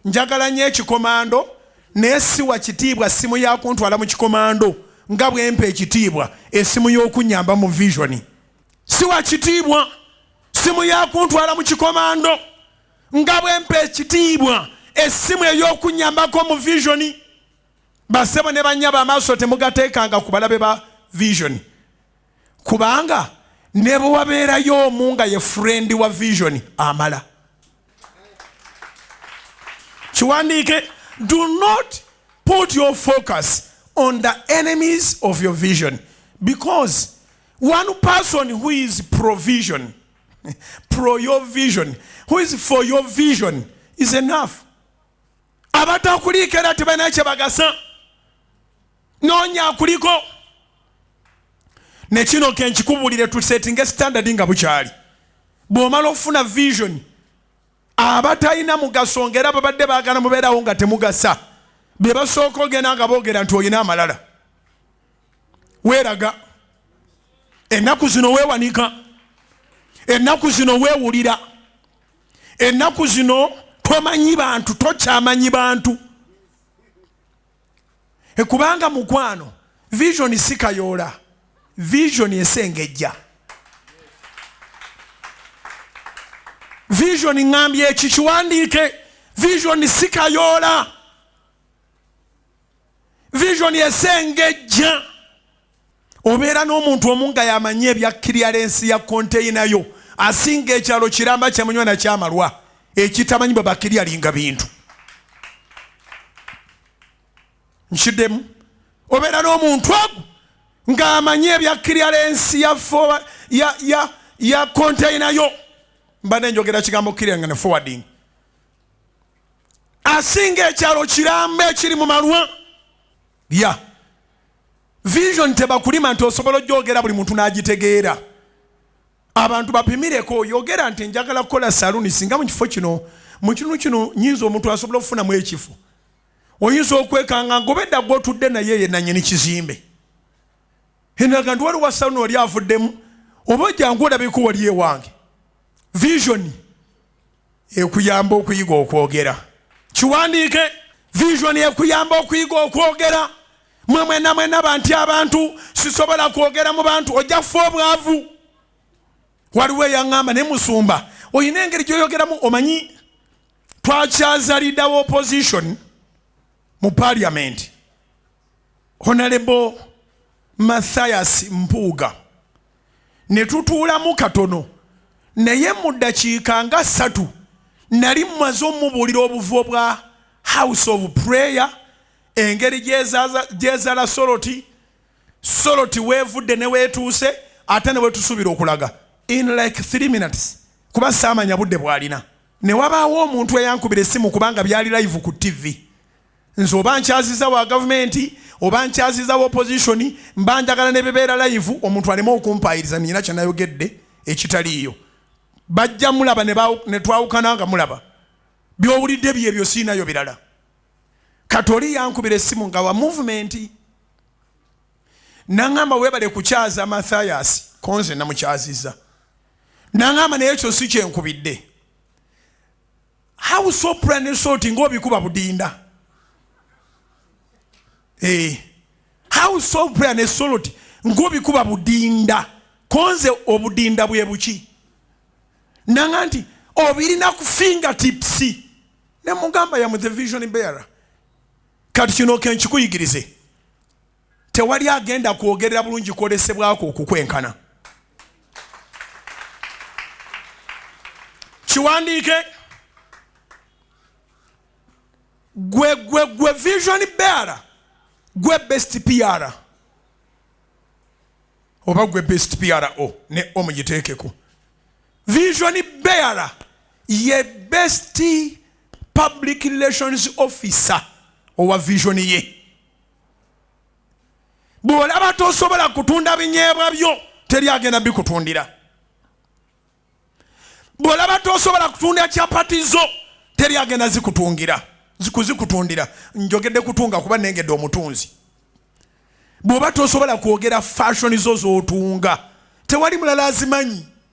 njagala nnyo ekikomando naye siwa kitiibwa ssimu yakuntwala mu kikomando nga bwempa ekitiibwa esimu y'okunyamba mu visioni siwa kitiibwa ssimu yakuntwala mu kikomando nga bwempa ekitiibwa essimu ey'okunyambako mu visioni basebo ne banyaba amaaso temugateekanga ku balabe ba visioni kubanga ne bwe wabeerayo omu nga ye furendi wa vision amala kiwandiike do not put your focus on the enemies of your vision because one person who is provision pro your vision who is for your vision is enough abatakuliikera tebalina kye bagasa noonya akuliko nekino kenkikubulire tusetinge standard nga bukyali bwomala okufuna vision abatalina mugaso nga era babadde bagala mubeerawo nga temugasa bebasooka ogenda nga boogera nti olina amalala weeraga ennaku zino weewanika ennaku zino weewulira ennaku zino tomanyi bantu tokyamanyi bantu e kubanga mukwano vision si kayoola vision esengejja vision ŋambye eki kiwandiike vision si kayoola vision esengejja obeera n'omuntu omu nga yamanyi ebya kiriyalensi ya konteyina yo asinga ekyalo kiramba kyamunywa nakyamalwa ekitamanyi bwe bakiryalinga bintu nkiddemu obeera n'omuntu ogu ng'amanyi ebya kiriyalensi ya fowa ya ya ya konteyina yo mbadde njogera kigambo kirya nga ne forwarding asinga ekyalo kiramba ekiri mu malwa ya yeah. vision tebakulima nti osobola ojogera buli muntu n'agitegeera abantu bapimireko yogera nti njagala kukola saluni singa mu kifo kino mu kitundu kino nyinza omuntu asobola okufunamu ekifo oyinza okwekanga ngobedda gwotudde naye yenanyini kizimbe enaga ndi waliwo saluni oli avuddemu oba ojangu olabika wali ewange visioni ekuyamba okuyiga okwogera kiwandiike vision ekuyamba okuyiga okwogera mwe mwena mwena banti abantu sisobola kwogera mu bantu ojja kufa obwavu waliwo eyaŋŋamba ne musumba olina engeri gyoyogeramu omanyi twakyazalidawo opposition mu parliament honalebo mathias mpuuga ne tutuulamu katono naye mu ddakiika nga ssatu nali mmaze omubuulira obuvo bwa house of prayer engeri gyezala soloti soloti weevudde ne weetuuse ate ne wetusuubira okulaga in like three minutes kuba saamanya budde bwalina ne wabaawo omuntu eyankubira essimu kubanga byali live ku ttivi nze oba nkyaziza wa gavumenti oba nkyaziza wa opozitioni mba njagala ne bebeera layivu omuntu aleme okumpaayiriza nina kyenayogedde ekitaliiyo bajja mulaba ne twawukana nga mulaba byowulidde byebyo siinayo birala kati oli yankubira essimu nga wa muvumenti naŋamba webale kukyaza mathayasi konze namukyaziza naŋamba naye ekyo si kyenkubidde how so plan and sort ngo obikuba budinda eh how so plan and sort ngo obikuba budinda konze obudinda bwe buki nanga nti obirina ku finger tips ne mugamba ya mu the vision bearer kati kino kenkikuyigirize tewali agenda kwogerera bulungi kwolesebwako okukwenkana kiwandiike gwe gwe gwe vision beara gwe best piara oba gwe best piara o ne omugiteekeko vision beara ye best public relations officer owa vision ye bw'olaba tosobola kutunda binyeebwa byo teri agenda bikutundira bw'olaba tosobola kutunda capati zo teri agenda zikutungira kuzikutundira njogedde kutunga kuba nengedde omutunzi bw'oba tosobola kwogera fashoni zo z'otunga tewali mulala azimanyi